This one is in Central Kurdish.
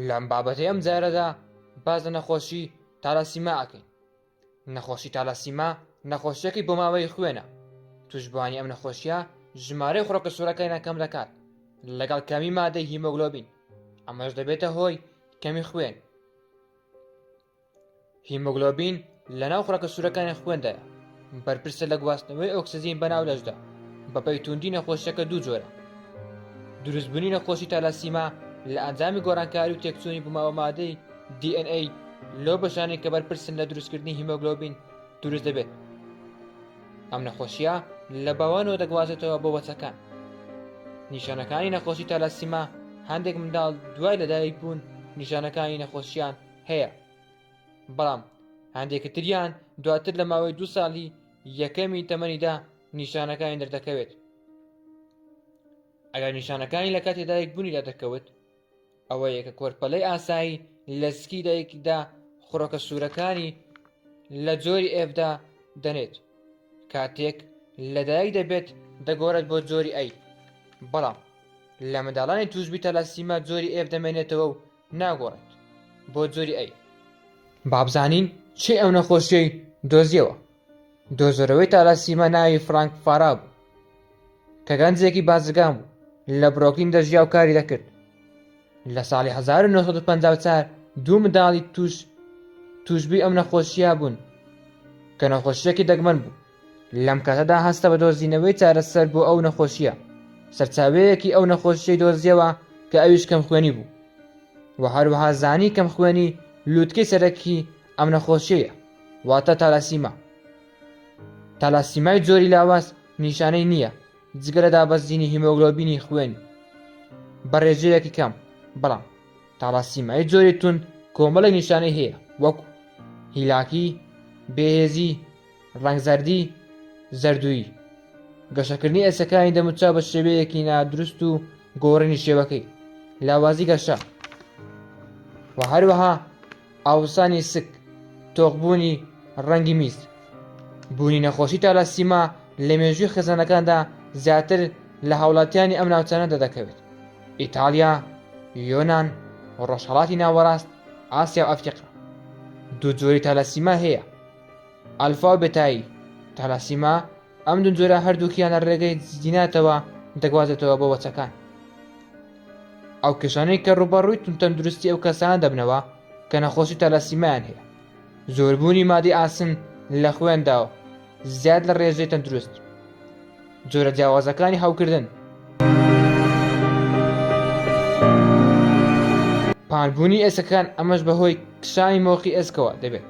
لەم بابەتەی ئەم جارەدا باز لە نەخۆشی تالاسیما ئەکەین نەخۆشی تالاسیما نەخۆشیەکەی بۆ ماوەی خوێنە توشبانی ئەم نەخۆشیە ژمارەی خڕۆکە سوورەکەی نەکەم دەکات لەگەڵ کەمی مادەی هیمۆگلۆبین ئەمەش دەبێتە هۆی کەمی خوێن هیمۆگلۆبین لەناو خڕەکە سوورەکانی خوێندایە بەرپرسە لە گواستنەوەی ئۆکسزین بەناو لەشدا بەپەی توندی نەخۆشیەکە دوو جۆرە دروستبوونی نەخۆشی تالاسیما لە ئەنجامی گۆڕانکاری و تێکچوونی بوومەوە مادەی DNA لەو بەشانەی کە بەرپرسن لە دروستکردنی هیمۆگلۆبین دروست دەبێت ئەم نەخۆشیە لە باوانەوە دەگوازێتەوە بۆ بەچەکان نیشانەکانی نەخۆشی تالاسیما هەندێک منداڵ دوای لەدایک بوون نیشانەکانی نەخۆشیان هەیە بەڵام هەندێکی تریان دواتر لە ماوەی دو ساڵی یەکەمی تەمەنیدا نیشانەکانی دەردەکەوێت ئەگەر نیشانەکانی لە کاتی دایک بوونیدا دەکەوت ئەوە یەکە کۆرپەلەی ئاسایی لە سکی دایکدا خڕۆکە سوورەکانی لە جۆری ئێفدا دەنێت کاتێک لەدایک دەبێت دەگۆڕێت بۆ جۆری ئەی بەڵام لە منداڵانی توشبی تەلاسیما جۆری ئێف دەمێنێتەوە و ناگۆڕێت بۆ جۆری ئەی. بابزانین چی ئەو نەخۆشیەی دۆزیەوە دۆزەرەوەی تالاسیمە ناوی فرانک فارا بوو کە گەنجێکی بازرگان بوو لە برۆکین دەژیا و کاری دەکرد لە ساڵی 1954 دوو منداڵی توش توشبی ئەم نەخۆشیە بوون کە نەخۆشیەکی دەگمەن بوو لەم کاتەدا هەستە بە دۆزینەوەی چارەسەر بۆ ئەو نەخۆشییە، سەرچاوەیەکی ئەو نەخۆشییەی دۆزییەوە کە ئەویش کەمخوێنی بوو و هەروەها زانی کەمخوێنی لووتکەی سەرەکیی ئەم نەخۆشییەیە واتە تالاسیما. تالاسیمای جۆری لاواز نیشانەی نییە جگە لە دابەزینی هیمۆگلۆبینی خوێنی بە رێژەیەکی کەم، بەڵام تالاسیمای جۆری توند کۆمەڵێک نیشانەی هەیە وەکو، هیلاکی، بێهێزی، ڕەنگزەردی، زەردوویی، گەشەکردنی ئێسکەکانی دەموچاو بە شێوەیەکی نادروست و گۆڕینی شێوەکەی، لاوازی گەشە و هەروەها ئاوسانی سک، تۆخبوونی ڕەنگی میز. بوونی نەخۆشی تالاسیما لە مێژووی خێزانەکاندا زیاتر لە هاوڵاتیانی ئەم ناوچانە دەردەکەوێت، ئیتاڵیا، یۆنان، ڕۆژهەڵاتی ناوەڕاست، ئاسیا و ئەفریقا. دوو جۆری تالاسیما هەیە، ئەلفا و بێتایی، تالاسیما، ئەم دوو جۆرە هەردووکیان لە ڕێگەی جیناتەوە دەگوازێتەوە بۆ وەچەکان. ئەو کێشانەی کە ڕووبەڕووی تونتەندروستی ئەو کەسانە دەبنەوە کە نەخۆشی تالاسیمایان هەیە، زۆربوونی مادەی ئاسن لە خوێندا و زیاد لە ڕێژەی تەندروست، جۆرە جیاوازەکانی هەوکردن، پانبوونی ئێسکەکان ئەمەش بەهۆی کشانی مۆقی ئێسکەوە دەبێت.